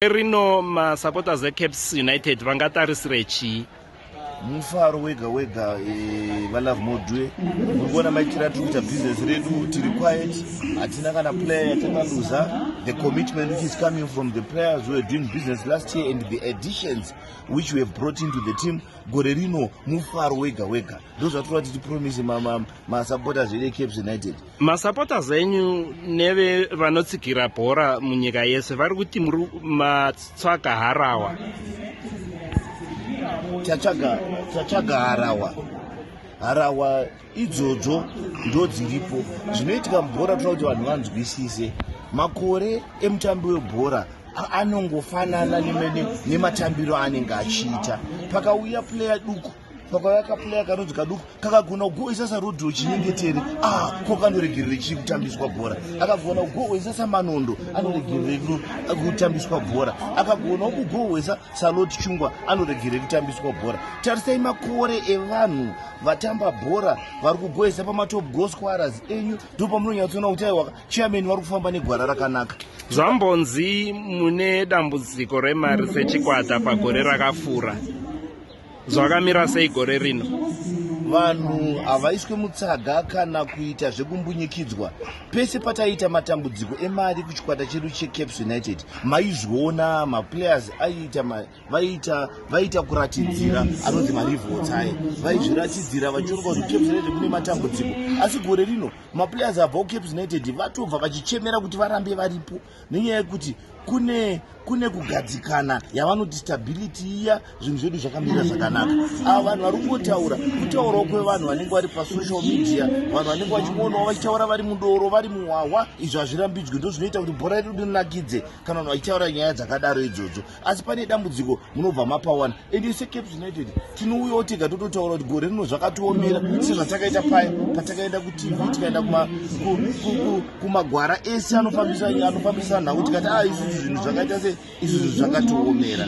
rino masupporters ecaps united vangatarisire chii mufaro wega wega eh, valove modue muri kuona maitiro atiri kuita business redu tiri quiet hatina kana player yatakaluza the commitment which is coming from the players who were doing business last year and the additions which we have brought into the team gore rino mufaro wega wega ndozvatiri kuva tichipromise masupporters edu ecaps united masupporters enyu neve vanotsigira bhora munyika yese vari kuti muri matsvaga harawa tatsvaga harawa harawa idzodzo ndo dziripo zvinoitika mubhora tinoda kuti vanhu vanzwisise makore emutambi webhora anongofanana nematambiro aanenge achiita pakauya player duku Baba vakaplaya karudzi kaduku kakagona kugoisa sarudzi wechinyengetere ah, ko kanoregerere chii kutambiswa bhora akagona kugohwesa samanondo anoregerere kutambiswa bhora akagonawo kugohwesa salot chungwa anoregerere kutambiswa bhora tarisai makore evanhu vatamba bhora vari kugohwesa pamatop gosquaras enyu ndo pamunonyatsoona kuti aiwaka chiameni vari kufamba negwara rakanaka zvambonzi mune dambudziko remari sechikwata pagore rakafura zvakamira sei gore rino vanhu havaiswe mutsaga kana kuita zvekumbunyikidzwa pese pataiita matambudziko emari kuchikwata chedu checaps united maizviona maplayers aiita vaiita vaiita kuratidzira anonzi marivotsai vaizviratidzira vachionga kuti caps united mune matambudziko asi gore rino maplayers abva kucaps united vatobva vachichemera kuti varambe varipo nenyaya yekuti kune kune kugadzikana yavanoti stability iya zvinhu zvedu zvakamira zvakanaka ava vanhu vari kungotaura kutaurawo kwevanhu vanenge vari pasocial media vanhu vanenge vachionawo vachitaura vari mudoro vari muhwahwa izvo hazvirambidzwi ndo zvinoita kuti bhora redu rinakidze kana vanhu vachitaura nyaya dzakadaro idzodzo asi pane dambudziko munobva mapawana and ise caps united tinouyawo tega tototaura kuti gore rino zvakatiomera sezvatakaita paya patakaenda kutv tikaenda kumagwara ese anofambisa nhau tikati a ah, isusu zvinhu zvakaita se isusu zvakatiomera